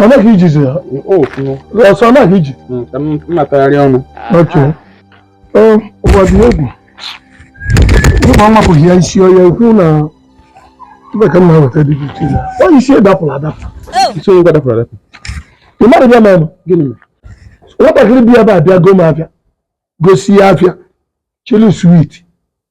ọ naghị ijizi ya ọsọ naghị iji mmatagharị ọnụ ụwa dị egwu ụmụ nwapụghị ya isi ọya ekwu na ebe ka mma weta dị iche ya onye isi dapụrụ adapụ isi onye dapụrụ adapụ ị mara bịa mere gịnị mere nwatakịrị bi ebe a bịa go m afịa gosịa afịa chịlị switi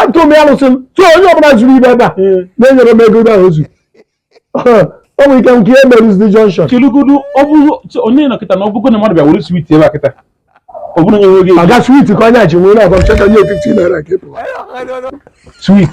atụ m alụsị m so onye ọbụla zuru ihe ebe a na-enyerọ m ego ahụ ozu o nwere ike nke ihe merụzi junction kelugodu ọ bụrụ onye nọ kịta na ọ bụgo na mmadụ bịa were swit ebe a kịta ọ bụrụ onye nweghị ego swit ka onye a ji nwee na-agwa m chọta nye 15 naira ka ị pụwa swit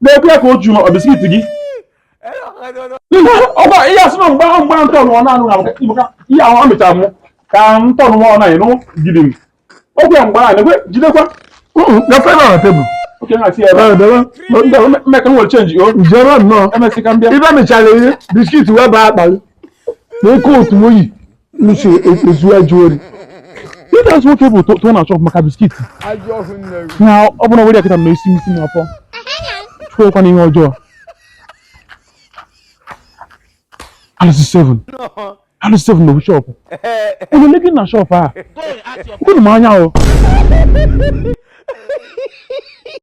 na-ekwu ya ka o juru biskit gị ọgba ihe asị na mgbe ahụ mgbe ahụ ntọnụ ọnụ anụ na-abụ maka ihe ahụ ọ mechara mụ ka ntọnụ nwa ọnụ anyị nụ gidi m okwu ya mgbe ahụ na-ekwe jidekwa gafe na na tebụl oke na si ebe mmeka nwere chenji o jere nnọọ emesịa ka m bịa ibe mechara ihe biskit wee baa akpalị na oke otu oyi lụsị ezu ajọ ori ihe a sị nwoke bụ tụọ na shọp maka biskiti na ọ bụla were ya kịta ma esi m isi m afọ chụkwakwa na ihe ọjọọ alụsị seven alụsị seven nọ na shọpụ onye legi na shọpụ a kwuru m anya o